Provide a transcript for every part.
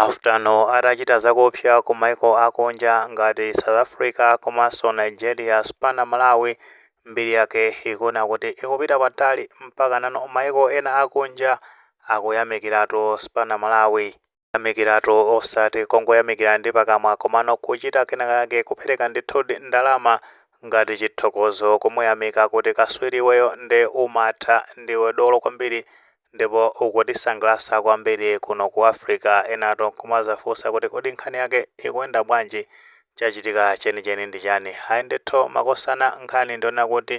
Afta atachita zakuopsa ku maiko akunja ngati South Africa komanso Nigeria, Spana Malawi mbiri yake ikuoneka kuti ikupita patali mpaka pano maiko ena akunja akuyamikiratu Spana Malawi. Kuyamikiratu osati kungoyamikira ndi pakamwa komano kuchita kenakake kupereka ndithudi ndalama ngati chithokozo kumuyamika kuti kaswiri iweyo nde umatha ndiwe dolo kwambiri Ndipo ukutisangalatsa kwambiri kuno ku Africa, enatu nkumazafunsa kuti kodi nkhani yake ikuyenda bwanji? Chachitika chenicheni ndi chani? Ayi ndithu makosana nkhani ndi yonena kuti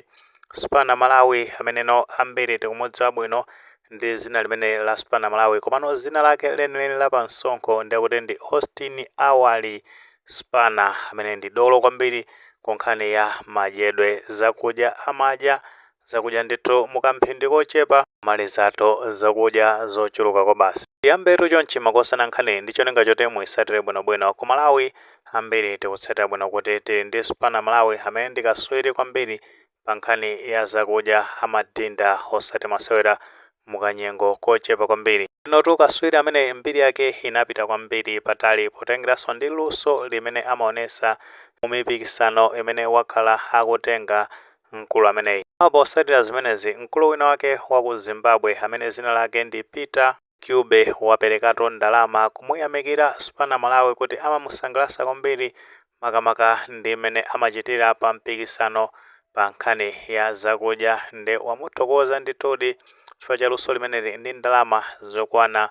Spana Malawi amene ambiri tikumudziwa bwino ndi zina limeneli la Spana Malawi komano zina lake lenileni la pa msonkho ndekuti ndi Austin Awali Spana amene ndi dolo kwambiri ku nkhani ya madyedwe zakudya amadya zakudya ndithu mukamphindi kochepa amalizatu zakudya zochuluka kwabasi tiyambetu chonchi makosana nkhani ndi cholinga choti muisatire bwinobwino ku malawi ambiri tikutsatira bwino kuti tili ndi spana malawi amene ndi kaswiri kwambiri pa nkhani ya zakudya amadinda osati masewera mukanyengo kochepa kwambiri uyutu kaswiri amene mbiri yake inapita kwambiri patali potengeranso ndi luso limene amaonesa mu mipikisano imene wakhala akutenga mkulu ameneyi. Posatira zimenezi, mkulu wina wake wa ku Zimbabwe amene zina lake ndi Peter Ncube waperekatu ndalama kumuyamikira Spana Malawi kuti amamusangalatsa kwambiri makamaka ndi mmene amachitira pa mpikisano pa nkhani ya zakudya nde wamuthokoza ndithudi chifukwa cha luso limeneli ndi ndalama zokwana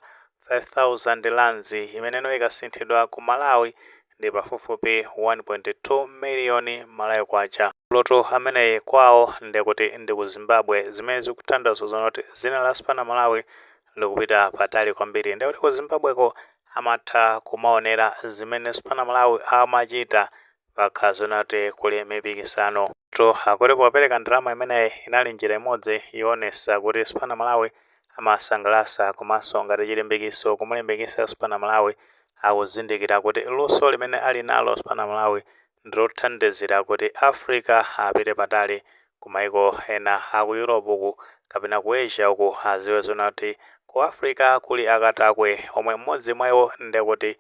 5000 rands imene ikasinthidwa ku Malawi ndi pafupifupi 1.2 million Malawi kwacha. Mkulutu ameneyi kwawo ndekuti ndi ku Zimbabwe zimene zikutanthauza zoona kuti zina la Spana Malawi likupita patali kwambiri ndekuti ku Zimbabweko amatha kumaonera zimene Spana Malawi amachita pakakhala zoona kuti kuli mipikisano. Iwotu akuti popereka ndalama imeneyi inali njira imodzi yoonesa kuti Spana Malawi amasangalasa komanso ngati chilimbikiso kumulimbikisa Spana Malawi akuzindikira kuti luso limene ali nalo Spana Malawi ndilothandizira kuti Africa apite patali ku maiko ena aku Europe uku kapena ku Asia uku aziwe zoona kuti ku Africa kuli akatakwe omwe mmodzi mwaiwo ndekuti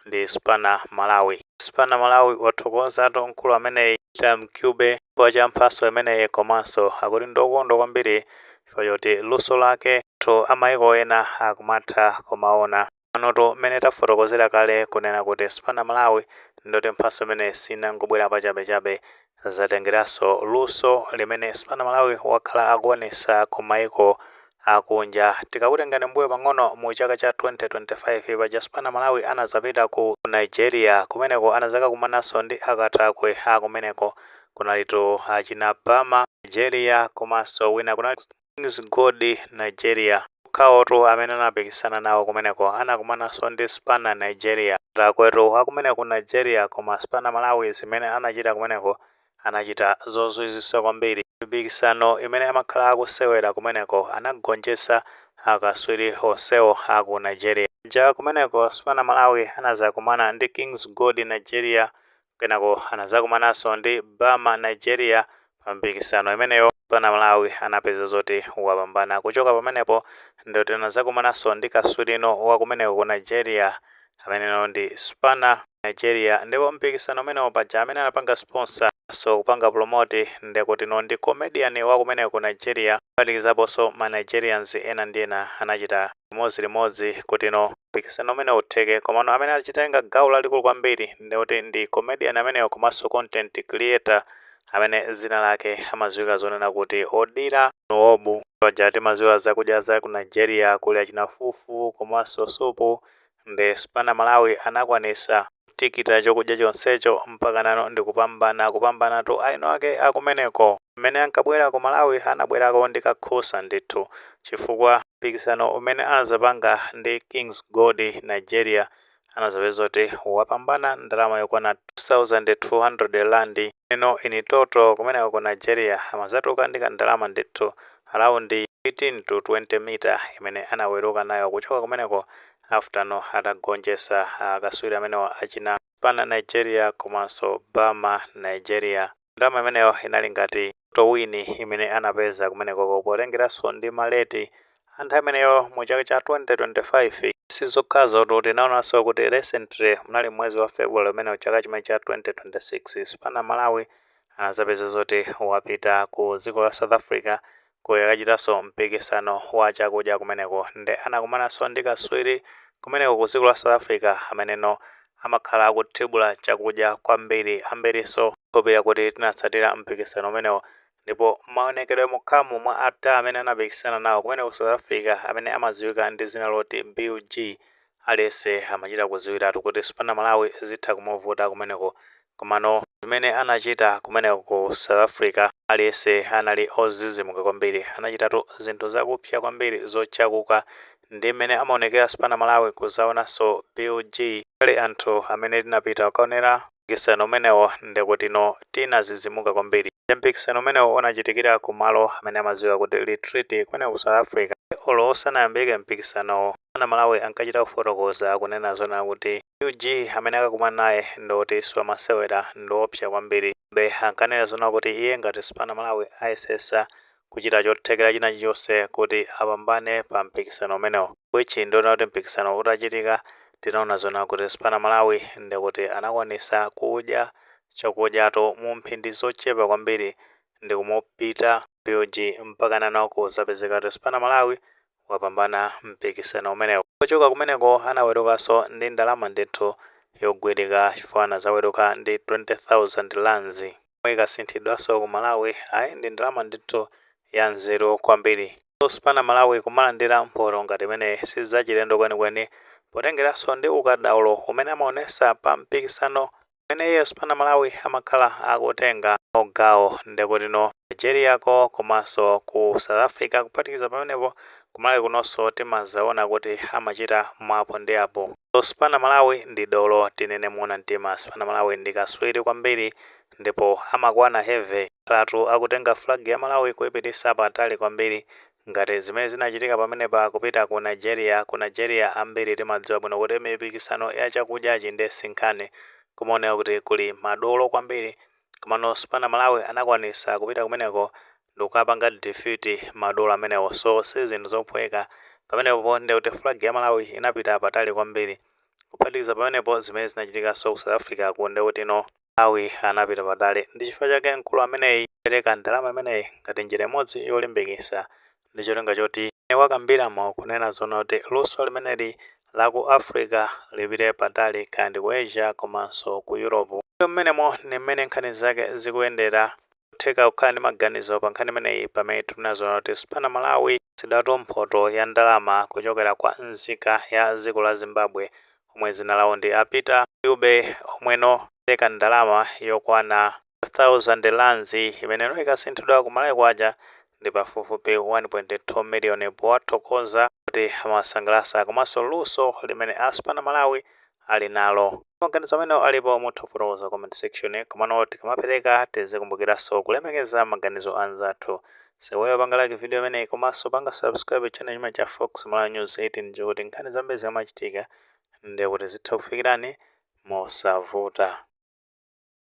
ndi Spana Malawi. Spana Malawi wathokozatu mkulu ameneyi Peter Ncube chifukwa cha mphaso imeneyi komanso akuti ndokondwa kwambiri chifukwa choti luso laketu amaiko ena akumatha kumaona. Panotu mmene tafotokozera kale kunena kuti Spana Malawi ndekuti mphaso imeneyi sinangobwera pachabechabe zatengeranso luso limene Spana Malawi wakhala akuonesa ku maiko akunja. Tikakutengani mbuyo pang'ono mu chaka cha 2025 paja Spana Malawi anazapita ku Nigeria kumeneko anazakakumananso ndi akatakwe akumeneko kunalitu achina Bama Nigeria komanso wina kunali. Kings Gold Nigeria okhawotu amene anapikisana nawo kumeneko anakumananso ndi Spana Nigeria. Akatakwetu akumeneko Nigeria koma Spana Malawi zimene anachita kumeneko anachita zozizwitsa kwambiri. Mipikisano imene amakhala akusewera kumeneko anagonjetsa akaswiri onsewo aku Nigeria. Paja kumeneko Spana Malawi anazakumana ndi Kings Gold Nigeria Kenako anazakumananso ndi Bama Nigeria pa mpikisano imeneyo Spana Malawi anapeza zoti wapambana. Kuchoka pamenepo ndiye kuti anazakumananso ndi kaswirino wa kumeneko ku Nigeria ameneno ndi Spana Nigeria ndipo mpikisano umenewo paja amene anapanga sponsor so kupanga promote ndiye kuti no ndi comedian wa kumeneko ku Nigeria kuphatikizaponso ma Nigerians ena ndi ena anachita limodzi limodzi kuti no mpikisano umenewu utheke komano amene achitenga gawo lalikulu kwambiri ndi kuti ndi comedian ameneyo komanso content creator amene zina lake amadziwika zonena kuti Odira Nwobu. Paja timadziwa zakudya za ku Nigeria kuli achina fufu komanso supu nde Spana Malawi anakwanitsa. tikita chokudya chonsecho mpakana no ndikupambana kupambanatu aeni ake akumeneko mmene ankabwera ku malawi anabwerako ndi kakhusa ndithu chifukwa mpikisano umene anazapanga ndi kings gold nigeria anazapeza kuti wapambana ndalama yokwana 2200 rand ino in total kumeneko ku nigeria amazatuka ndi kandalama ndithu around 18 to 20 mita imene anaweruka nayo kuchoka kumeneko After no atagonjesa akaswiri amenewa achina Spana Nigeria komanso Bama Nigeria. Ndalama imeneyo inali ngati towini imene anapeza kumenekoko potengeraso ndi ma rate a nthawi imeneyo mu chaka cha 2025. Sizokhazotu, tinaonaso kuti recently munali mmwezi wa February umenewu chaka chimene cha 2026, Spana Malawi anazapeza zoti wapita ku dziko la South Africa kukachitanso mpikisano wa chakudya kumeneko nde anakumananso ndi kaswiri kumeneko ku dziko la South Africa ameneno amakhala akuthibula chakudya kwambiri. Ambirinso ndikhulupirira kuti tinatsatira mpikisano umenewo ndipo maonekedwe mokhamo mwa ata amene anapikisana nawo kumeneko ku South Africa amene amadziwika ndi dzina loti BUG aliyense amachita kudziwiratu kuti Spana Malawi zitha kumuvuta kumeneko Komano zimene anachita kumeneko ku South Africa, aliyense anali ozizimuka kwambiri. Anachitatu zinthu zakupsya kwambiri zochakuka ndi mmene amaonekera Spana Malawi kuzaonanso BUG. Pali anthu amene tinapita kukaonera mpikisano umenewo ndekutino tinazizimuka kwambiri. Nde mpikisano umenewo unachitikira ku malo amene amadziwika kuti Retreat kumeneko ku South Africa. Nde olo usanayambike mpikisanowo, Spana Malawi ankachita kufotokoza akunena zoona kuti UG amene akakumana naye ndi oti siwamasewera ndi woopsa kwambiri. Be ankanena zona kuti iye ngati Spana Malawi ayesetsa kuchita chothekera china chilichonse kuti apambane pa mpikisano umenewo which ndiona kuti mpikisano utachitika tinaona zona kuti Spana Malawi ndikuti anakwanisa kudya chakudyatu mu mphindi zochepa kwambiri ndikumupita BUG mpakanano kuzapezeka kuti Spana Malawi wapambana mpikisano umenewo. Pochoka kumeneko anawerukanso ndi ndalama ndithu yogwirika chifukwa anazaweruka ndi 20,000 rands yomwe ikasinthidwanso ku Malawi ayi ndi ndalama ndithu ya nzeru kwambiri. So Spana Malawi kumalandira mphoto ngati imeneyi sizachilendo kwenikweni potengeranso ndi ukadaulo umene amaonesa pa mpikisano umene iye Spana Malawi amakhala akutenga nawo gawo ndekutino Nigeria ko komanso ku South Africa kuphatikiza pamenepo ku Malawi kunonso timazaona kuti amachita mwa apo ndi apo. So Spana Malawi ndi dolo tinene moona mtima Spana Malawi ndi kaswiri kwambiri ndipo amakwana heavy. Akhalatu akutenga flag ya Malawi kuipitisa patali kwambiri Ngati zimene zinachitika pamenepa kupita ku Nigeria, ku Nigeria ambiri timadziwa bwino kuti mipikisano ya chakudyachi nde sinkhani, kumaoneka kuti kuli madolo kwambiri, komano Spana Malawi anakwanisa kupita kumeneko ndikukapanga defeat madolo amenewo, so sizinthu zophweka, pamenepo nde kuti flag ya Malawi inapita patali kwambiri, kuphatikiza pamenepo zimene zinachitikanso ku South Africa ko ndekutino. Malawi anapita patali. Ndi chifukwa chake mkulu ameneyi wapereka ndalama imeneyi ngati njira imodzi yolimbikisa ndi cholinga choti mmene wakambiramo kunena zoona kuti luso limeneli la ku Africa lipite patali kaya ndi ku Asia komanso ku Europe. Ndipo mmenemo ndi mmene nkhani zake zikuyendera. Nkotheka kukhala ndi maganizo pa nkhani imeneyi pamene tikunena zoona kuti Spana Malawi. sidwatu mphoto ya ndalama kuchokera kwa nzika ya dziko la Zimbabwe omwe dzina lawo ndi a Peter Ncube omweno apereka ndalama yokwana 5,000 Rands imeneno ikasinthidwa ku Malawi Kwacha ndi pafupifupi 1.2 miliyoni powathokoza kuti amawasangalasa komanso luso limene a Spana Malawi ali nalo. Maganizo amenewo ngati alipo mutha kufotokoza comment section, komano tikamapereka tizikumbukiranso kulemekeza maganizo a anzathu. Iweyo panga like video imeneyi komanso panga subscribe channel chimene cha Fox Malawi News 18 n'cholinga kuti nkhani zambiri zikamachitika ndiye kuti zitha kukufikirani mosavuta.